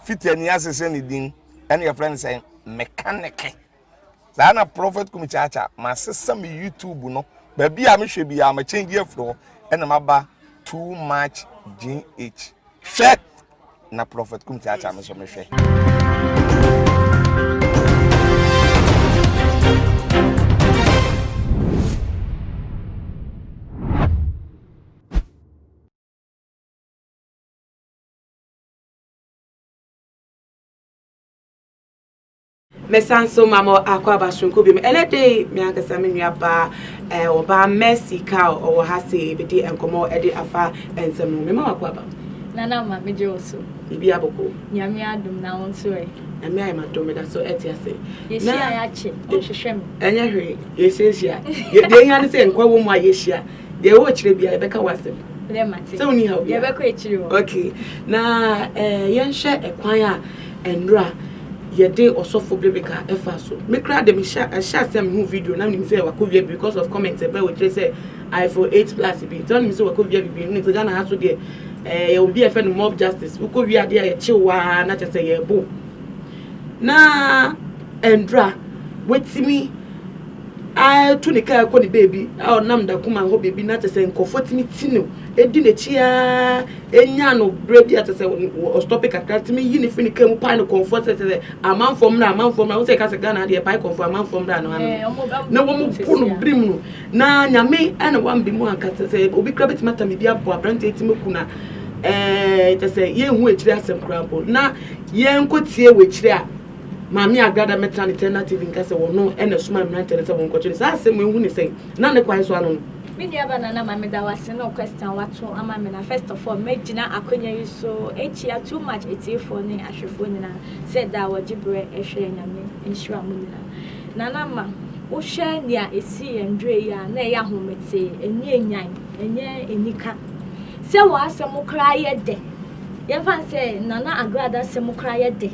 Fiti ani ase sɛ ne din ɛna yɛfrɛ no sɛ mekaneke. Saa na Prophet Kumi Kyaakyaa masesa me YouTube no baabi a mehwɛ biara ma change afiri hɔ ɛna maba too much GH. Hwɛ na Prophet Kumi Kyaakyaa me nso mehwɛ. Mɛsan so ma mo akwaaba soronko bi mu. Ɛnɛ de me ankasa me nua baa ɛɛ eh, ɔbaa Mercy Kao ɔwɔ ha se ebedi nkɔmɔ ɛde afa nsɛm no. Mema wakwaaba. Nana ma megye wo so. Bibi aboko. Nyame adom na wo nso ɛ. Nyame ayɛ ma dom meda so ɛte ase. Yɛhyia yɛakyɛ, ɔhwehwɛ me. Ɛnyɛ hwee, yɛsiesia. Deɛ ɛhia ne sɛ nkwa wɔ mu a yɛhyia. Yɛwɔ akyire bia yɛbɛka w'asɛm. Nɛ mate. Sɛ woni haw bia. Yɛbɛkɔ akyire hɔ. Okay. Na eh, yɛnhwɛ ɛkwan a ɛnora yɛde ɔsɔfo Bibica ɛfa so. Me kora de mehyɛ ɛhyɛ asɛ mehu video na menim sɛ wakɔ wia because of comment ɛbɛ wɔ kyerɛ sɛ iPhone 8 plus bi. Nti ɔnim sɛ wakɔ wia bibi nim sɛ Ghana ha so deɛ eh, yɛ obi a ɛfɛ no mob justice. Wokɔ wia adeɛ a yɛkyew waa na kyɛ sɛ yɛbo. na ɛndura watumi atu ne kaa kɔ ne baabi a ɔnam da kuma hɔ baabi na kyɛ sɛ nkurɔfoɔ tumi ti no di n'akyi ara ɛnya no berɛ bi a kyɛ sɛ ɔstɔpe kakra tumi yi ne firi ne kaa mu pae no kɔnfoɔ sɛ sɛ amanfoɔ mmra amanfoɔ mmra wo sɛ ɛka sɛ ghana deɛ pae kɔnfoɔ amanfoɔ mmra no ano na wɔn po no bere mu no na nyame ɛna wambi mu anka kyɛ sɛ obi kura bɛtumi atame bi abɔ aberanteɛ tumi ku na ɛɛ kyɛ sɛ yɛnhu akyiri asɛm koraa mpo na Yɛn nkɔ tie wakyire a maame agrada mɛtra ne tɛna tv nka sɛ wɔno ɛna ɛsoma mmerantɛ no sɛ wɔn nkɔkye no saa asɛm ehu ne sɛn na ne kwan so ano no. Me nua ba nana ma me da wase no question a wato ama me na first of all mɛ gyina akonya yi so ɛkyia too much atiefoɔ ne ahwɛfoɔ nyina sɛ da a wɔgye berɛ ɛhwɛ nyame nhyira mo nyina nana ma wo hwɛ nea ɛsii yɛn ndurɛ yi a na ɛyɛ ahometee ɛnyɛ nyan ɛnyɛ anika sɛ wɔ asɛm koraa yɛ dɛ Yɛmfa no sɛ Nana Agrada asɛm koraa yɛ de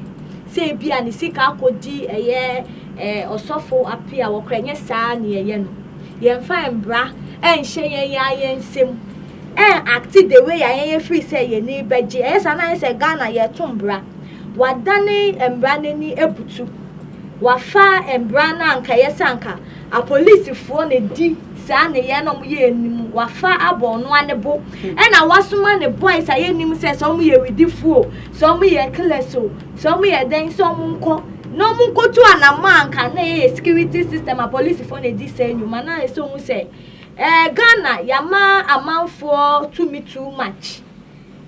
sɛ ebia ne sika akɔdi ɛyɛ eh, ɔsɔfo ape a wɔkora, ɛnyɛ saa ne yɛyɛ no. Yɛmfa mbra nhyɛ yɛn yɛn ara yɛn nsam ɛn acte the way a yɛn yɛ firi sɛ yɛn ani bɛgye. Ɛyɛ saa na ayɛ sɛ Ghana yɛto mbra. Wɔadane mbra no ani abutu. Wɔafa mbra no a anka ɛyɛ sɛ anka Apolisifoɔ na ɛdi saa nneyɛɛ no a wɔyɛ anim, wɔafa abɔ ɔno ara ne bo, ɛna wɔasoma ne boys a yɛnnim sɛ sɛ wɔyɛ awudifoɔ o, sɛ wɔyɛ killers o, sɛ wɔyɛ dɛn sɛ wɔnkɔ na wɔnkɔtu anamɔ anka na ɛyɛ security system a polisifoɔ na ɛdi saa nnwuma na ɛsɛ ɔhu sɛ eh, Ghana yɛama amanfoɔ tumi too much,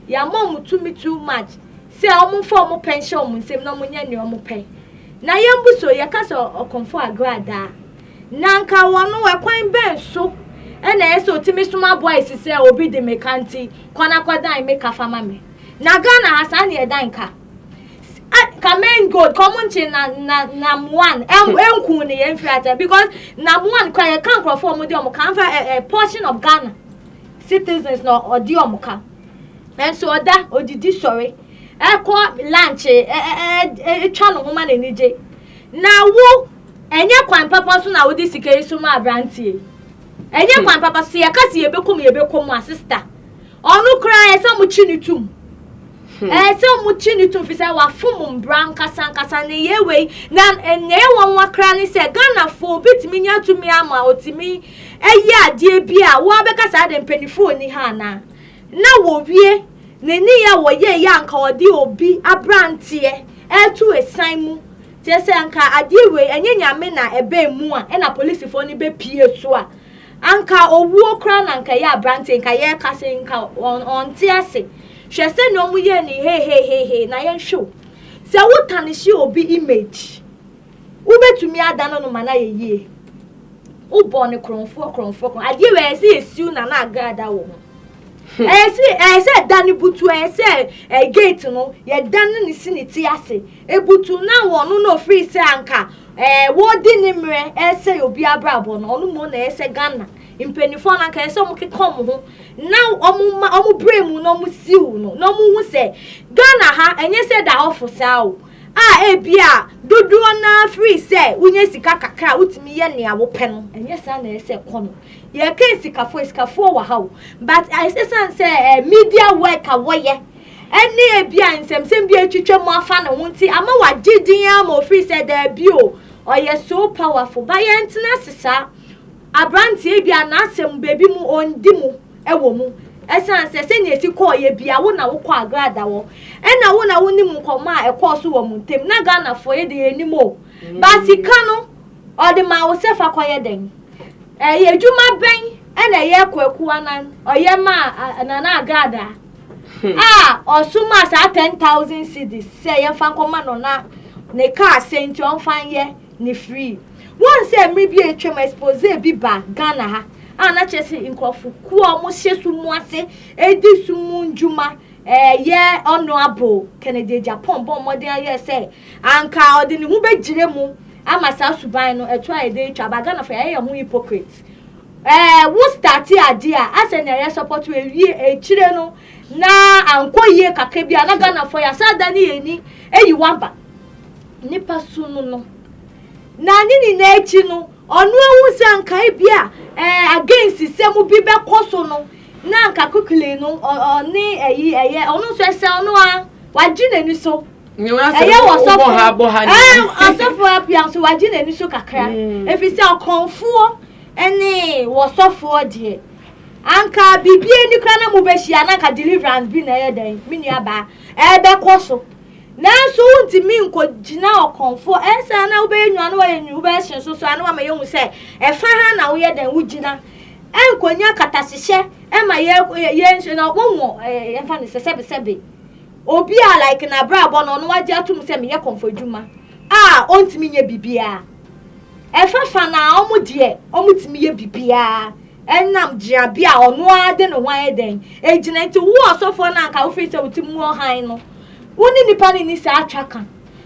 yɛama wɔn tumi too much. Sɛ wɔmfa wɔn pɛ nhyɛ wɔn nsam na wɔnyɛ nea wɔpɛ. Na yɛn bu so yɛka sɛ ɔkɔmfo agradaa. Na anka wɔn no, ɛkwan bɛn so na ɛyɛ sɛ otumi soma boys sɛ obi de me ka nti, kɔ na kɔdan me ka fa ma me? Na Ghana ha saa na yɛdan ka. A ka main gold ka wɔn nkye na na nam one ɛm ɛnku ne yɛn firi atɛ because nam one kora yɛka nkurɔfoɔ wɔn de wɔn ka anfa ɛ ɛ portion of Ghana citizens na ɔde wɔn ka. Nanso ɔda, odidi sɔre, ɛkɔ lankye, ɛtwa ne ho ma n'ani gye. Na wo, ɛnyɛ kwan papa so na wode sika yi so ma aberanteɛ yi. Ɛnyɛ kwan papa so, yɛka sɛ yɛbɛkɔ mu, yɛbɛkɔ mu a, sista. Ɔno koraa ɛsɛ sɛ wɔkyi ne tum. Hmm. Eh, sɛ ɔmo kyi ne tum fi sɛ wafom mbra nkasa nkasa ne yɛ wei na eh, nea ɛwɔ nwa kra ne sɛ ghanafoɔ obetumi nya tumi ama otumi Ɛyɛ adeɛ bi a wo ara bɛka sɛ adɛn mpaninfoɔ nni ha anaa? Na wɔwie ne nneyɛɛ a wɔyɛeɛ a anka wɔde obi aberanteɛ reto ɛsan mu, kyerɛ sɛ anka adeɛ wei ɛnyɛ Nyame na ɛbaa mu a ɛna polisifoɔ no bɛpue so a, anka owuo koraa na anka ɛyɛ aberanteɛ nka yɛreka sɛ nka ɔnte ase. Hwɛ sɛdeɛ wɔyɛɛ no hehehehe na yɛnhwɛ o. Sɛ wotane hye obi image. Wobɛtumi adane no ma no ayɛ yie. Wobɔ no korɔmfoɔ korɔmfoɔ korɔmfoɔ. Adeɛ wei ɛyɛ sɛ yɛsiw na na agrada wɔ ho. Hmm. Ɛyɛ sɛ ɛyɛ sɛ ɛda no butu ɛyɛ sɛ ɛyɛ gate no yɛda no ne si ne ti ase. Ebutu na wɔn no na ofiri sɛ anka ɛɛ wɔdi ne mmerɛ ɛyɛ sɛ obi abrabɔ no ɔno mu na ɛyɛ sɛ Ghana mpanimfoɔ no anka ɛyɛ sɛ wɔn keka wɔn ho na wɔn ma wɔn brɛ mu na wɔn siw no na wɔn hu sɛ Ghana ha ɛnyɛ sɛ da hɔ fo saa o. a ebia dodoɔ no ara firi sɛ wonya sika kakra a wotumi yɛ nea wopɛ no ɛnyɛ saa na ɛsɛ kɔ no yɛka asikafo asikafoɔ wɔ ha o but ɛsiane sɛ eh, media work a wɔyɛ ɛne ebia nsɛmsɛm bi atwitwa mu afa ne ho nti ama wagye din ara ma ofiri sɛ daabi o ɔyɛ so powerful ba yɛntena ase saa aberanteɛ bi a n'asɛm baabi mu ɔndi mu wɔ mu ɛsiane sɛ sɛnea esi kɔɔeɛ bia wo na wokɔ agrada hɔ ɛna wo na wonim nkɔmmɔ a ɛkɔɔ so wɔ mo ntam na Ghanafoɔ yɛ de yɛ nim o ba sika no ɔde maa wo sɛ fa kɔyɛ dɛn ɛyɛ adwuma bɛn ɛna ɛyɛ kwaku anan ɔyɛ maa nana agrada hmm. a ɔso maa saa ten thousand cedis sɛ yɛmfa nkɔma no na ne kaa sɛ nti ɔmfa nyɛ ne free Woahu sɛ mmere bi a atwam expose bi ba Ghana ha a na kyerɛ sɛ nkurɔfo kuo a wɔhyɛ sum mu ase di sum mu ndwuma ɛyɛ Honourable Kennedy Agyapong bɔ mmɔden ayɛ sɛ anka ɔde ne ho bɛgyina mu ama saa suban no ɛto ayɛ dɛ atwa aba Ghanafoɔ yɛayɛ yɛn ho hypocrite ɛɛ wo starte adeɛ a asɛ nea yɛ support wo awie akyire no na ankɔ yie kakra bi a na Ghanafoɔ yɛ asɛ ada ne yɛn ni ayi waba nipa su no no Na ne nyinaa akyi no, ɔno ahu sɛ anka ebi a ɛɛ against sɛm bi bɛkɔ so no, na anka quickly no ɔne ɛyi ɛyɛ ɔno nso ɛsɛ ɔno a wagye n'ani so. ɛyɛ wɔ sɔfo ɛɛ ɔsɔfo apia nso wagye n'ani so kakra mm. efi sɛ ɔkɔnfoɔ ɛne wɔ sɔfoɔ deɛ anka biribi ani kora na mo bɛhyia na anka deliverance bi na ɛyɛ dɛn me nua baa ɛbɛkɔ so. Nanso wontumi nkogyina ɔkɔmfo. Ɛnsɛ a na wobɛyɛ nnwuma na woayɛ nnwuma wobɛyɛ hyɛn so so a na wama yɛahu sɛ ɛfa ha na woyɛ dɛn wogyina. Ɛnkonya katahyehyɛ ɛma yɛ yɛ nso na wɔwɔ ɛmfa ne sɛ sɛbesɛbe. Obi a like n'abrabɔ no ɔno wagye atom sɛ meyɛ kɔmfo adwuma a ɔntumi nyɛ biribiara. Ɛfa fa na wɔn deɛ wɔtumi yɛ biribiara ɛnam gyinabea a ɔno ara de ne ho ayɛ dɛn egyina nti wo ɔsɔfoɔ no anka wofiri sɛ wo ti mu wɔ hann no Wo ne nnipa no nni saa twaka,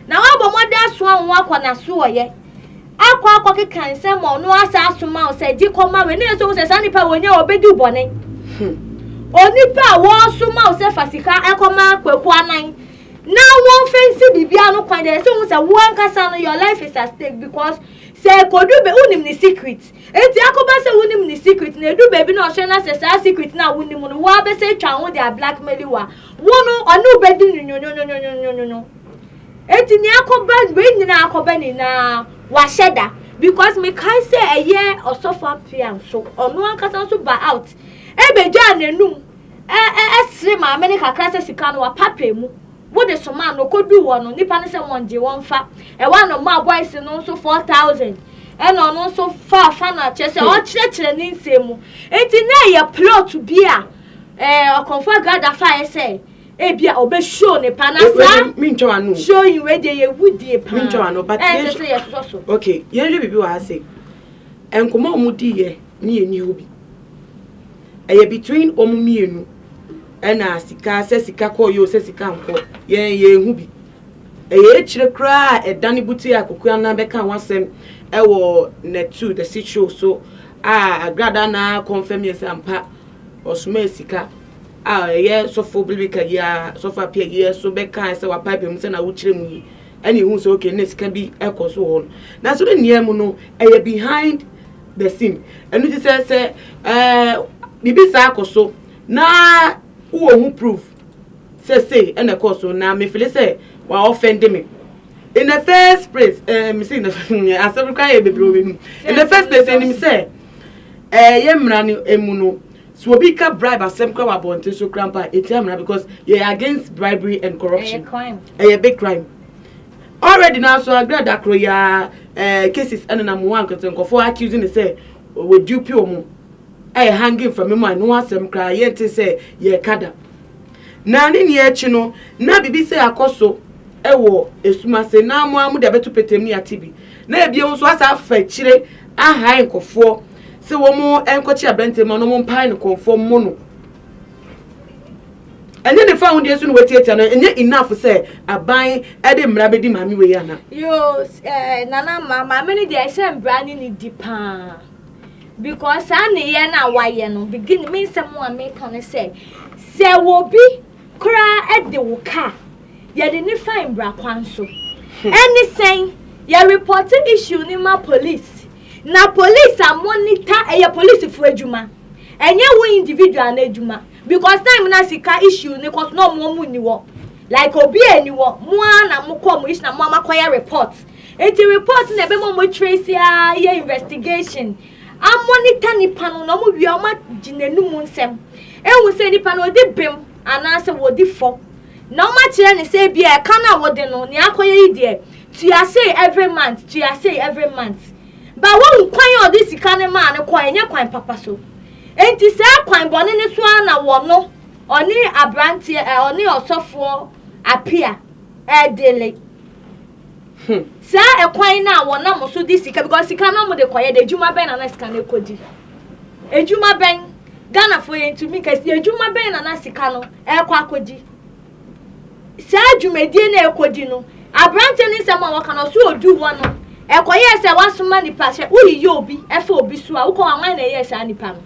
na woabɔ mmɔden asoma wo ho akɔ n'asoɔyɛ, akɔ akɔkeka nsɛm ma ɔno asa asoma wo sɛ, Gye kɔma wei, na yɛsɛ wo sɛ saa nnipa wei nyɛ ɔbɛdi bɔne. Hmm. Onipa a wɔresoma wo sɛ fa sika ɛkɔma kwaku anan na wɔmfa nsi biribiara no kwan deɛ ɛsɛ wo sɛ wo ankasa no your life is at stake because sɛ ɛkɔdu bɛ wonim ne secret enti akɔba sɛ wonim ne secret na ɛdu baabi na ɔhyɛ no sɛ saa secret no a wonim no woabɛsɛ atwa ho de a blackmail wo a Wo no, ɔne wo bɛdi no nwonwonwonwonwonwonwo. Enti nea akɔba, wei nyinaa akɔba nyinaa, wahyɛ da. Because mekae sɛ ɛyɛ ɔsɔfo apea nso, ɔno ankasa nso ba out, ɛbɛgyaa n'anum, ɛ, ɛ, ɛsere maame no kakra sɛ sika no wapapɛ mu. Wode somaa no, ɔkɔduu hɔ no, nnipa no sɛ wɔngye, wɔmfa. Ɛwɔ a na ɔmaa boys no nso four thousand. Ɛna ɔno nso faa fa no a, kyerɛ sɛ ɔrekyerɛkyerɛ ne nsɛm mu. Enti na ɛyɛ plot bi a, Eh, ɔkɔmfo agrada fa ayɛ sɛ ebia ɔbɛhyow ne pa na saa mentwa wano showing wei deɛ yɛ wudie paa mentwa wano but ɛnsɛ sɛ yɛsosɔ so ok yɛnhwɛ biribi wɔ ha se nkɔmmɔ a wɔn diiɛ ne yɛn ni hɔ bi ɛyɛ between wɔn mmienu ɛna sika sɛ sika kɔ yɛ o sɛ sika nkɔ yɛn yɛn ho bi ɛyɛ akyire koraa ɛdane buti a kokoa anan bɛka ho asɛm ɛwɔ natu the show so a agrada na kɔnfɛm yɛ sɛ ampa Ɔsomaa sika a ɛyɛ sɔfo Bilbeka yi ara, sɔfo Apia yi ara so bɛkae sɛ wapaapae mu sɛ na wokyerɛ mu yi ɛna ehu sɛ okay na sika bi ɛkɔ so wɔ hɔ no. Nanso ne nea mu no ɛyɛ behind the scene. Ɛno ti sɛ sɛ ɛɛ biribi saa akɔ so na wowɔ ho proof sɛ sei ɛna ɛkɔɔ so na mefili sɛ wa ɔfɛnde me. In the first place, ɛɛ mesi in the asɛm koraa yɛ bebree wɔ m'anim. In the first place ɛnim sɛ Ɛɛ yɛ mmara no emu no, so obi ka bribe asɛm kora wɔ abɔnten so kora mpo a, ɛtia mmara because yɛ against bribery and corruption. Ɛyɛ big crime. Already na so agrɛ da koro ya ɛɛ cases ɛnenam wɔn ankasa nkɔfoɔ accuse ne sɛ wɔdupe wɔn ɛyɛ hanging from mu a no asɛm koraa yɛnte sɛ yɛka da. Na ne nea akyi no na biribi sɛ akɔ so ɛwɔ esumase na mo a mo de abɛto petem ne ate bi. Na ebien nso asa afa akyire ahae nkɔfoɔ sɛ wɔn nkɔkye aberanteɛ mu na wɔn mpae no kɔnfoɔ mmo no. Ɛnyɛ ne fa ho deɛ nso na watiatia no ɛnyɛ enough sɛ aban ɛde mmara bɛdi maame wei ana. Yoo ɛɛ nana ma maame no deɛ ɛsɛ mmara ne ne di paa because saa nneyɛ no a wayɛ no begin me nsɛm a meka no sɛ sɛ wɔbi koraa ɛde wo kaa. yɛde ne fae mbra kwan so ɛne sɛn yɛ report issue ne ma police na police a monitor ɛyɛ police fo adwuma ɛnyɛ wo individual no adwuma because time na sika issue ne kɔso na ɔmo ɔmo ni wɔ like obi a ni wɔ mo a na mo kɔ mo issue na mo ama kɔyɛ report eti report na ebe mo mo trace a yɛ investigation a monitor nipa no na ɔmo wie ɔmo agyina enum nsɛm ehu sɛ nipa no odi bem anaasɛ wɔdi fɔ. na wɔakyerɛ no sɛ ebia ɛka no a wode no, nea akɔyɛ yi deɛ, tua sei every month, tua sei every month. Ba woahu kwan a ɔde sika no maa no kɔɔ, ɛnyɛ kwan papa so. Enti saa kwan bɔne no so ara na wɔno, ɔne aberanteɛ, eh, ɔne ɔsɔfoɔ Apia ɛredele. Hmm. Saa ɛkwan no a wɔnam so de sika, because sika no wɔde kɔyɛ de, adwuma bɛn na na sika no ɛkɔdi? Adwuma bɛn? Ghanafoɔ yɛntumi kɛse, adwuma bɛn na na sika no rekɔ akɔdi saa dwumadie no a ɛrekɔdi no aberanteɛ no nsɛm a wɔka no ɔso ɔduu hɔ no ɛkɔyɛɛ sɛ wasoma nipa sɛ woyeyɛ obi ɛfa obi so a wokɔ hɔ a wan na ɛyɛɛ saa nipa no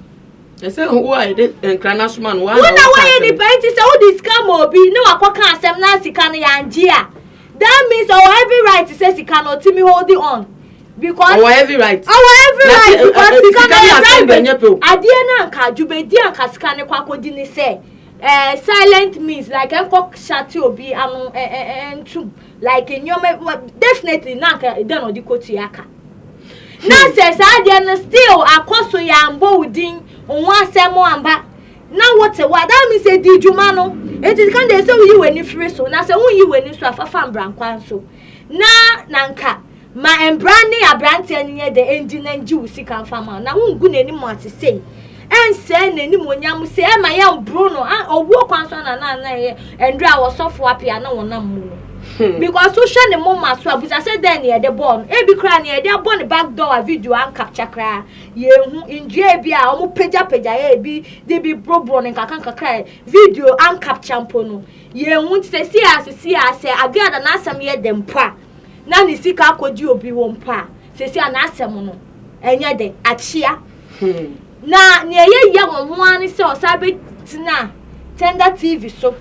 ɛsɛ wo a yɛde nkra no asoma no wona woyɛ nipa nti sɛ wode sika ma obi ne wakɔka asɛm na sika no yɛangye a That means ɔwɔ every right sɛ sika no ɔtumi holding on because ɔwɔ every right ɔwɔ every right eh, eh, because eh, sika no yɛ bribery adeɛ no anka dwumadi anka sika no kɔ akɔdi ne sɛ uh, silent means like ɛnkɔ shate obi ano ntum like nneɛma definitely na anka ɛdɛ na ɔde kɔ tua ka na hmm. sɛ saa adeɛ no still akɔ so yɛ ambɔ wo din ho asɛm amba na wote hɔ a, that means sɛ di dwuma no. Enti kan deɛ sɛ woyi w'ani firi so, na sɛ wonyi w'ani so a, fafa mbrankwan so. Na na nka ma mbra ne abranteɛ no nyɛ dɛ ndi na ngye wo sika mfa ma wo, na wongu n'anim ase sei. Ɛnsɛe n'animuonyam sei, ɛmma yɛmboro no. Ah, owuo kwan so na na na ɛyɛ ndra a ɔsɔfo apia na wɔnam mu no. Hmm. Because wohwɛ ne moma so a, busa sɛ dɛn ne yɛde bɔɔ no. Ebi koraa ne yɛde abɔ ne back door a video ancapture koraa. Yehu nnua bi a wɔpagyapagyae a ebi de bi boroboro no nkakrankakra a video ankapkya mpo no. Yehu nti seesei a seesei a sɛ Aguiada n'asɛm yɛ dɛ mpo a, na ne sika akɔgye obi wɔ mpo a, seesei a n'asɛm no ɛnyɛ dɛ, akyea. Hmm. Na nea ɛyɛ yia wɔn ho ara ne sɛ ɔsan bɛtena Tender TV so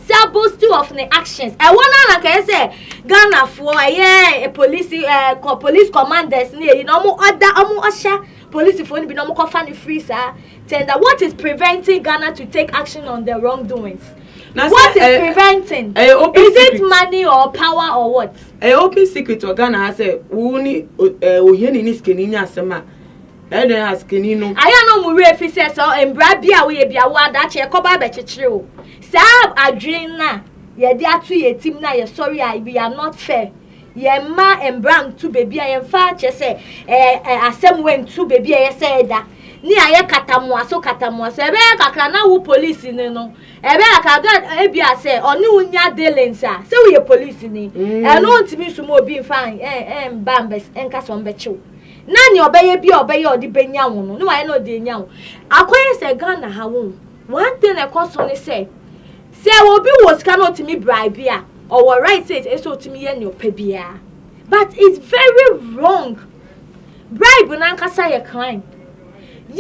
Sir boasting of ne actions ɛwɔ no ara kɛyɛ sɛ Ghana foɔ ɛyɛ eh, police eh, police commanders ne ɛyi na ɔmo ɔda ɔmo ɔhyɛ police foɔ no bi na ɔmo kɔfa no free saa tender what is preventing Ghana to take action on the wrongdoings what is eh, preventing eh, is it money or power or what. ɛyɛ open secret wɔ Ghana ha sɛ wo ne ohiani ne sikani nya asɛm a Ɛdɛn asekani no? Ayɛ no mo werɛ fi sɛ sɛ mbra bi a woyɛ bi a wo adakye ɛkɔba abɛkyekyere wo. Saa adwene no a yɛde ato yɛn tim no a yɛsɔre a we are not fair. Yɛmma mbra nto baabi a yɛmfa kyerɛ sɛ ɛɛ asɛm wei nto baabi a ɛyɛ sɛ ɛda. Ne ayɛ katamoa so katamoa so. Ɛbɛyɛ kakra na wo polisi ni no ɛbɛyɛ kakra gɛ ebi a sɛ ɔne wo nya dealings a sɛ woyɛ polisi ni ɛno ntumi nsoma obi mfa ɛn ɛn mba mbɛ nka sɛ ɔmbɛkye wo. na nea ɔbɛyɛ bi a ɔbɛyɛ ɔde bɛnya wo no na wayɛ na ɔde anya wo akɔyɛ sɛ ghana ha wo one thing na ɛkɔ so ne sɛ sɛ obi wɔ sika na ɔtumi bribe a ɔwɔ right sɛ ɛsɛ sɛ ɔtumi yɛ nea ɔpɛ biara but it's very wrong bribe nankasa yɛ crime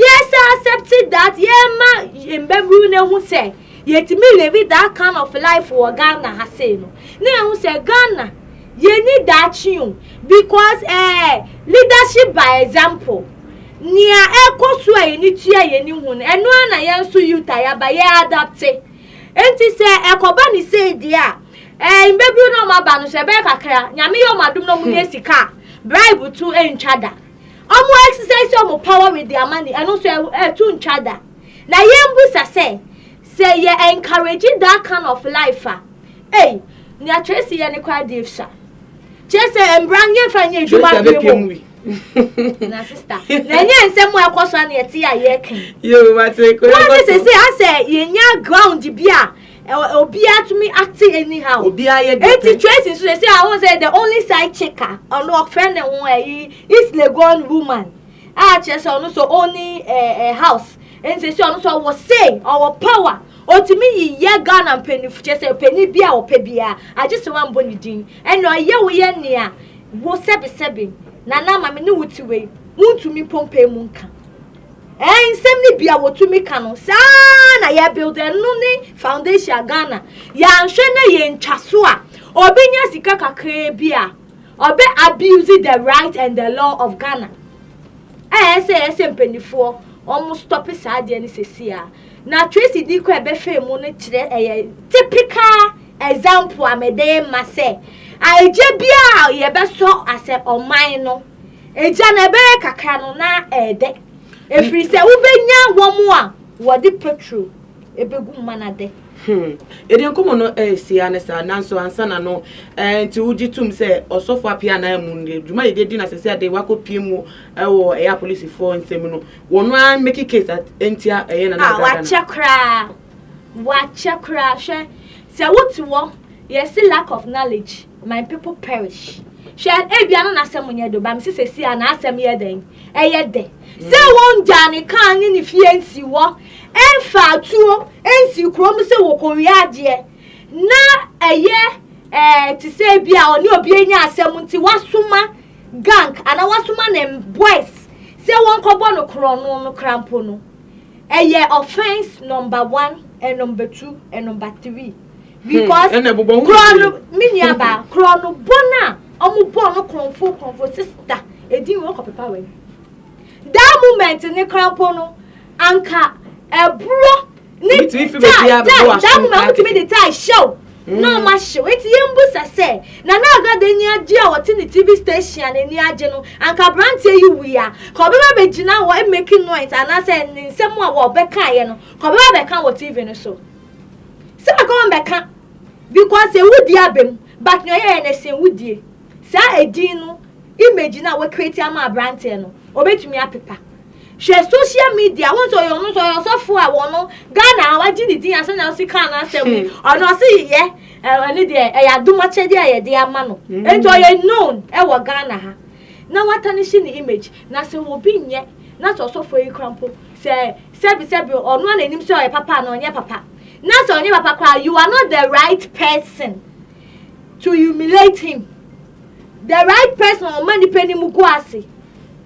Yɛsan accepte that yɛma yɛn mbaburu no hu sɛ yɛtumi live that kind of life wɔ Ghana ha sei no na yɛhu sɛ Ghana yɛnni daakye o because ɛɛ eh, leadership by example nea ɛkɔ so a yɛni tua yɛni hu no ɛno ara na yɛn nso youth a yɛaba yɛ adapte nti sɛ ɛkɔba ne sei deɛ a ɛɛ eh, mbaburu no ɔmo aba no sɛ ɛbɛyɛ kakra nyame yɛ ɔmo adom na ɔmo nya sika bribe to ntwa da. Ɔmo exercise ɔmo power with their money, ɛno nso ɛto ntwa da. Na yɛn busa sɛ, sɛ yɛ encourage that kind of life a, ei, nea Tracy yɛ no koraa deɛ fya. Kyerɛ sɛ mbra no yɛnfa nyɛ adwuma adwene bom. Na sister, na ɛnyɛ nsɛm a ɛkɔ so a na yɛte a yɛka yi. Wɔn ne sɛ sɛ asɛ yɛnya ground bi a obiara tumi ate anyhow. obiara yɛ deɛ eti tracy nso sɛ sɛ ahun sɛ the only side chick a ɔno ɔfrɛ ne ho ɛyi east legon woman a kyerɛ sɛ ɔno sɛ ɔni ɛɛ ɛɛ house nti sɛ ɔno sɛ ɔwɔ say ɔwɔ power otumi yiyɛ ghana mpanyinfo kyerɛ sɛ panyin bi a ɔpɛ biara agye sɛ wɔn abɔ ne din ɛna ɔyɛ woyɛ nea wo sɛbisɛbi nana maame ne wo ti wei wuntumi pompɛ mu nka. Ɛɛ nsɛm no bi a wɔtumi ka no saa ara na yɛ build ɛno ne foundation a Ghana yɛanhwɛ na yɛntwa so a obi nya sika kakraa bi a ɔbɛ abuse the right and the law of Ghana ɛɛ sɛ ɛɛ sɛ mpanimfoɔ wɔn stop saa adeɛ no sɛsi a na Tracy di kɔ ɛbɛhwɛ mu no kyerɛ ɛyɛ typical example a mɛde ma sɛ agye biara yɛbɛsɔ asɛ ɔman no Agya no, ɛbɛyɛ kakra no, na ɛyɛ dɛ. Ɛfiri sɛ wobɛnya wɔn a wɔde petro ɛbɛgu ma no dɛ. Hmm. Ɛdeɛ nkɔmmɔ no ɛresi ara ne saa, nanso ansa na no eh, nti wogye tom sɛ ɔsɔfo apia anaa mu no, dwuma yɛde adi na sɛ sɛ ade wakɔpie mu wɔ ɛyɛ apolisifoɔ nsɛm no, wɔn ara mmɛki case ɛntia ɛyɛ nana adada no. Wakyɛ koraa, wakyɛ koraa, hwɛ sɛ wote wɔ yɛsi lack of knowledge. My people perish. Hwɛ, ebia no n'asɛm nyɛ do, ba mese sɛsi a n'asɛm yɛ dɛn? Ɛyɛ dɛ. Sɛ mm. wɔngyaa ne kan ne ne fie nsi hɔ, ɛmfa atuo nsi kurom sɛ wɔkɔwie adeɛ, na ɛyɛ ɛɛ eh, te sɛ bi a ɔne obi anya asɛm nti wasoma gang anaa wasoma ne boys sɛ wɔnkɔbɔ no korɔno no krampo no ɛyɛ offense number one and number two and number three. Hmm, because korɔ no me nua baa korɔ no bɔ no a ɔmo bɔ no korɔnfo korɔnfo sista edin wɔ kɔpepa wɔ that moment ne krampo no anka ɛburo ne tie tie that moment wotumi de tie hyɛw hmm. na ɔma hyew eti yɛn mbu sɛ sɛ nana agada ani agye a ɔte ne tv station a n'ani agye no anka aberanteɛ yi wia ka ɔbɛba bɛgyina hɔ emeki noise anaasɛ ne nsɛm a wɔbɛka yɛ no ka ɔbɛba bɛka wɔ tv no so. Saa ka wɔn bɛka because ewu di aba mu but nea ɔyɛɛ no sen wo die. Saa edin no image no a wɔ create ama aberanteɛ no obetumi apepa. Hwɛ social media wɔn sɛ ɔyɛ ɔno nso ɔyɛ ɔsɔfo a wɔn no Ghana a wagye ne din asɛn na ɔsi kaa n'asɛm yi hmm. ɔno ɔsi yɛ ɛne deɛ ɛyɛ adomakyɛdeɛ a yɛde ama no hmm. nti ɔyɛ known ɛwɔ Ghana ha na wata ne hyɛ ne image na sɛ obi nyɛ na sɛ ɔsɔfo yi kura mpo sɛ Sɛbi sɛbi ɔno a nanim sɛ ɔyɛ papa anaa ɔnyɛ papa na sɛ ɔnyɛ papa koraa you are not the right person to humiliate him the right person a ɔma nipa ni mu gu ase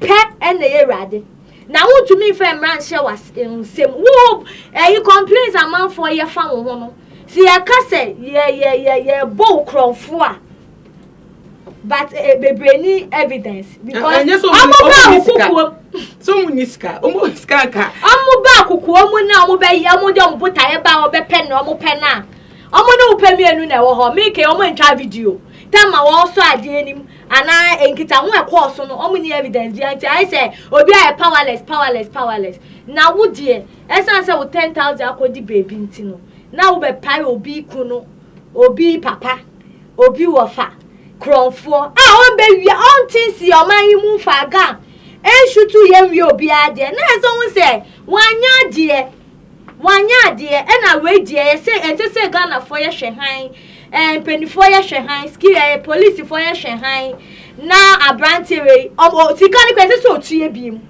pɛ ɛna yɛ awurade na wontumi nfa mmara nhyɛ was nsɛm wo ɛyi complaints amanfoɔ yɛ fa wo ho no sɛ yɛka sɛ yɛ yɛ yɛ yɛ bɔ wo korɔnfo a but eh, eh, bebree ni evidence because eh, eh, ɔmo bá akokokuo so ɔmo ni sika ɔmo wɔ sika nka ɔmo bá akokokuo mu na ɔmo bɛ yɛ ɔmo de ɔmo botaeɛ ba ɔbɛ pɛ na ɔmo pɛ na ɔmo ne wopɛ mmienu na ɛwɔ hɔ meke ɔmo ntwa video tam a wɔsɔ adeɛ anim anaa nkitaho ɛkɔɔ so no ɔmo ni evidence bi nti ayɛ sɛ obi ayɛ powerless powerless powerless na wo deɛ ɛsan sɛ wo ten thousand akɔdi beebi nti no na wobɛpae obi ku no Obi papa, obi wɔfa, korɔnfoɔ a ɔmbɛwia ɔnte nsi ɔman yi mu mfa agam nsutu yɛ nwie obiara deɛ na ɛsɛ ho sɛ wanyɛ adeɛ wanyɛ adeɛ ɛna wei deɛ yɛsɛ ɛsɛ sɛ Ghanafoɔ yɛhwɛ han ɛɛ mpanimfoɔ yɛhwɛ han ski ɛɛ polisifoɔ yɛhwɛ han na aberanteɛ wei ɔmo sika no kɔ ɛsɛ sɛ ɔtua bi mu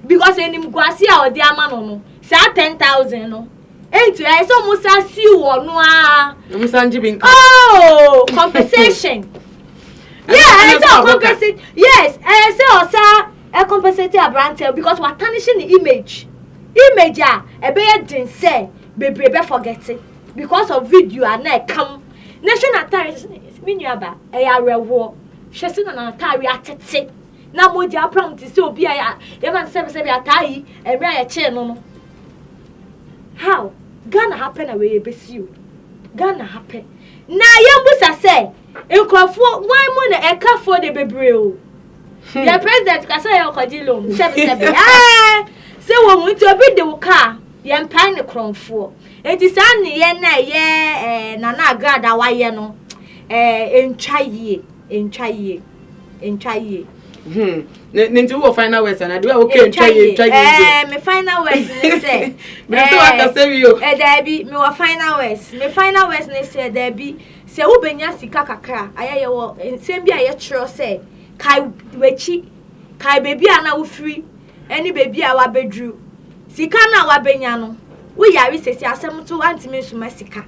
because enim guase a ɔde ama no no saa ten thousand no Enti ɛyɛ sɛ ɔmo san siw wɔ no aa. Ɔmo san gye bi nka. Oh, compensation. Yeah, ɛyɛ sɛ ɔcompensate. Yes, ɛyɛ sɛ ɔsa ɛcompensate aberanteɛ because watanihye ne image. Image a ɛbɛyɛ den sɛ bebree bɛ forget because of video a na ɛkam. Na hwɛ n'ataare sɛ me nua ba ɛyɛ awerɛhoɔ. Hwɛ sɛ na n'ataare atete. Na mogya apra no te sɛ obi a yɛma no sɛbesɛbe ataa yi mmerɛ a yɛkyee no no how Ghana ha pɛ na wei ɛbɛsi o Ghana ha pɛ na yɛmbusa sɛ nkurɔfoɔ wan mu na ɛkafoɔ de bebree o hmm. yɛ president ka sɛ yɛ ɔkɔgye loan sɛbesɛbe ɛɛ sɛ wɔ mu nti obi de wo kaa yɛmpae ne korɔmfoɔ nti saa nneyɛ no a ɛyɛ eh, nana agrada wayɛ no eh, ɛntwa yie ɛntwa yie ntwa yie. Hmm. ne ne nti wɔ final words ana de wa okay ntwa yie ntwa yie. ɛɛ eh, me final words ne sɛ. mi nso wa kasa eh, wi o. ɛ eh, daabi mi wɔ final words mi final words ne sɛ daabi sɛ wobɛnya sika kakra ayɛ yɛ wɔ nsɛm bi a yɛtwerɛ sɛ kae w'akyi kae baabi a na wofiri. ne baabi a wabɛduru, sika no a wabɛnya no, wo yare sɛsi asɛm nso woantumi nsoma sika.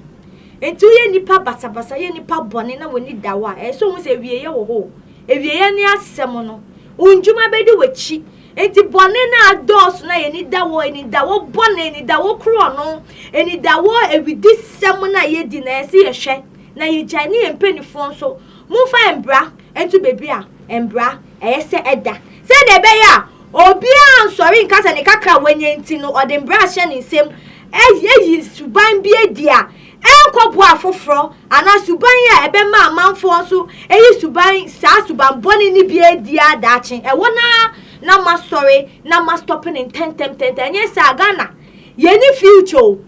Nti woyɛ nnipa basabasa, woyɛ nnipa bɔne na w'ani da hɔ a, ɛyɛ sɛ wohu sɛ awieɛ wɔ hɔ o. Awieɛ ne asɛm no, wo ndwuma bɛdi w'akyi. Nti bɔne no a adɔɔso no a yɛni da hɔ, ani da hɔ bɔne, ani da hɔ korɔno, ani da hɔ awidisɛm no a yɛdi no, ɛyɛ sɛ yɛhwɛ na yɛgyae ne yɛn mpanifoɔ nso, momfa mbra nto baabi a mbra Ɛyɛ sɛ ɛda sɛnea ɛbɛyɛ a obiara ansɔre nka sɛ ne kakra a wanya nti no ɔde mmara ahyɛ ne nsam ayi suban bi adi a ɛnkɔboa afoforɔ anaa suban a ɛbɛma amanfoɔ nso ayi suban saa suban bɔne no bi adi a daakye ɛwɔ no ara na moasɔre na moastɔpe no ntɛntɛm ntɛntɛm ɛnyɛ saa Ghana yɛnni future o.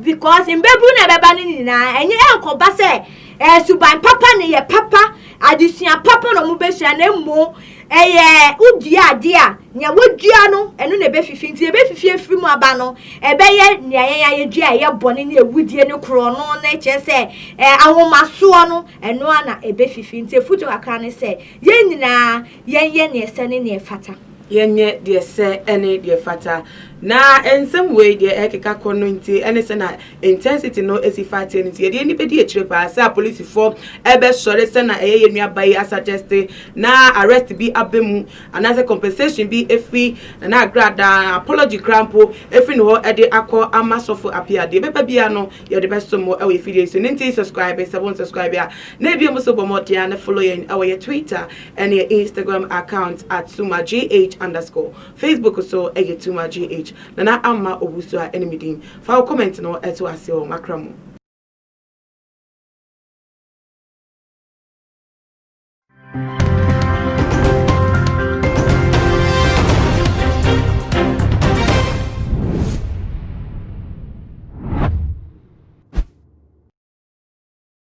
because mbɛburu na ɛbɛba no nyinaa ɛnyɛ ɛnkɔba sɛ ɛsuban eh, papa ne yɛ papa adesua papa na ɔmo bɛsua na emu ɛyɛ eh, wodua adeɛ a nea wodua no ɛno na ɛbɛfifi nti ɛbɛfifi efiri mu aba no ɛbɛyɛ nea yɛn ayɛdua a ɛyɛ bɔne ne ewudie ne korɔ no na ɛkyerɛ sɛ ɛɛ eh, ahomasoɔ no ɛnoa na ɛbɛfifi nti efutu kakra ne sɛ yɛn nyinaa Yɛnyɛ deɛ ɛsɛ ne deɛ ɛfata. Yɛnyɛ deɛ ɛsɛ ne deɛ ɛfata. Na nsɛm wei deɛ ɛrekeka kɔ no nti ne sɛ na intensity no si fa ateɛ no nti yɛde yɛni bɛdi akyire paa sɛ apolisifoɔ ɛbɛsɔre sɛ na ɛyɛ yɛn nua ba yi asuggeste na arrest bi aba mu anaasɛ compensation bi ɛfiri Nana Agrada, apology koraa mpo ɛfiri ne hɔ ɛde akɔ ama Sɔfo Appiah. Deɛ ɛbɛba biara no yɛde bɛso mo ɛwɔ yɛn fidie yi so no nti subscribe sɛ wonsubscribe a na ɛbio mu so bɔ mmɔden a na follow yɛn ɛwɔ yɛn Twitter Ɛne Instagram account at Sumagh underscore, Facebook nso yɛ Tumagh, Nana Amma Owusu a ɛne me din. Fa wo comment no to ase wɔ m'akra mu.